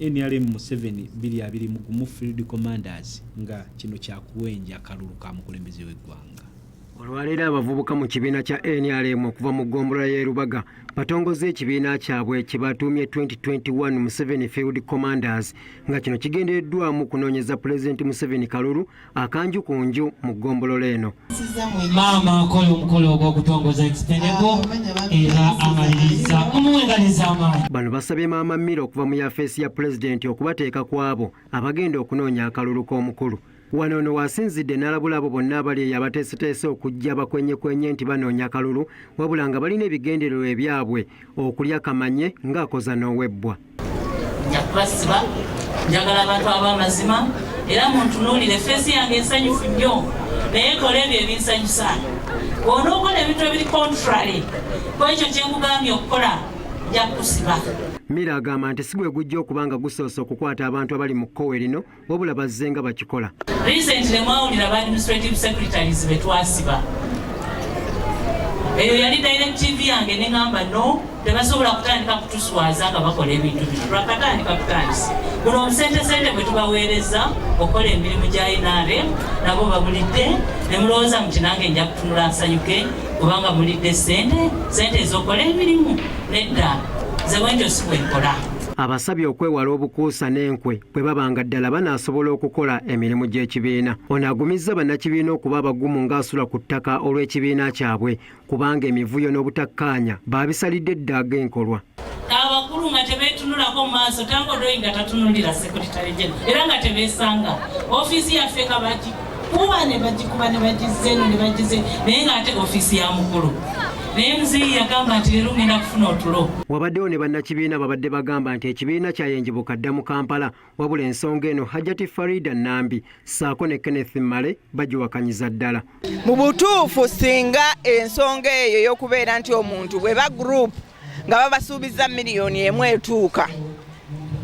nrm museveni 22 mugumu field commanders nga kino kyakuwenja akalulu ka mukulembeze w'eggwanga olwaleero abavubuka mu kibiina kya nrm okuva mu ggombolola y'e lubaga batongoza ekibiina kyabwe kye batuumye 2021 museveni field commanders nga kino kigendereddwamu kunoonyeza pulezidenti museveni kalulu akanju ku nju mu ggombolola eno maama akola omukolo ogw'okutongoza ekitendeko era amaliriza omuwengaliza amaanyi bano basabye maama mira okuva mu yafeesi ya pulezidenti okubateeka ku abo abagenda okunoonya akalulu k'omukulu wano ono wasinzidde n'alabula abo bonna abali eyo abateeseteese okujja bakwenyekwenye nti banoonya akalulu wabula nga balina ebigendererwa ebyabwe okulya kamanye ng'akoza n'owebbwa njakubasiba njagala abantu ab'amazima era muntunuulire feesi yange ensanyufu nnyo naye kola ebyo ebinsanyusa bwona okola ebintu ebiri contrary ku ekyo kye nkugambye okukola nja kukusiba mira agamba nti si gwe gujja okuba nga gusoose okukwata abantu abali mu kkowe lino wabula bazze nga bakikola recently mwawulira ba administrative secretaries betwasiba eyo yali direct tv yange neŋamba no tebasobola kutandika kutuswaza nga bakola ebintu bino lwakatandika kutandisa buno omusentesente bwe tubaweereza okukola emirimu gya inaare nabo babulidde ne mulowooza muti nange nja kutunula nsanyuke kubanga mulidde sente sente ezokola emirimu nedda nze bwentyo si bwenkola abasabye okwewala obukuusa n'enkwe bwe baba nga ddala banaasobola okukola emirimu gy'ekibiina ono agumizza bannakibiina okuba abagumu ng'asula ku ttaka olw'ekibiina kyabwe kubanga emivuyo n'obutakkaanya baabisalidde eddaaga enkolwa abakulu nga tebetunulako maaso tangodoyi nga tatunulira sekuritale jena era nga tebesanga ofiisi yaffe nga bagi kuba ne bagikuba ne bagizza eno ne bagizza naye ng'ate ofiisi ya mukulu naye muzeeyi yagamba nti leero ngenda kufuna otulo wabaddewo ne bannakibiina babadde bagamba nti ekibiina kyayenjibuka dda mu kampala wabula ensonga eno hajati farida nambi saako ne kenneth male bagiwakanyiza ddala mu butuufu singa ensonga eyo y'okubeera nti omuntu bwe ba gurupu nga babasuubizza miliyoni emu etuuka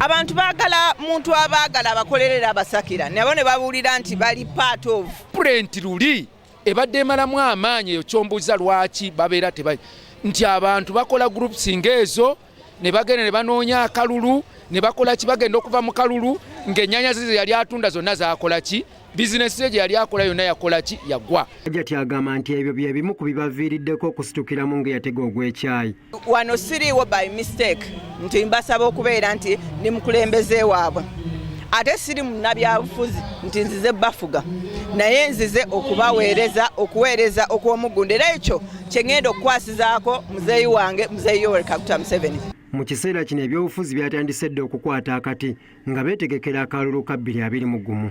abantu baagala muntu abaagala abakolerera abasakira nabo ne babuulira nti bali part of pulenti luli ebadde emalamu amaanyi eyo kyombuuza lwaki babeera teba nti abantu bakola groups ngaezo ne bagenda ne banoonya akalulu ne bakola ki bagenda okuva mu kalulu ng'ennyanya zize yali atunda zonna zakola ki bizinesi ye gye yali akola yonna yakola ki yagwa ajati agamba nti ebyo bye bimu ku bibaviiriddeko okusitukiramu nga yatega ogw'ekyayi wano siriiwo by mistake nti mbasaba okubeera nti ndi mukulembeze waabwe ate siri munabyabufuzi nti nzize bafuga naye nzize okubaweereza okuweereza okw'omuggundu era ekyo kye ŋŋenda okukwasizaako muzeeyi wange muzeeyi yoweri kaguta museveni mu kiseera kino ebyobufuzi byatandise dda okukwata akati nga beetegekera akalulu ka bbiri abiri mu gumu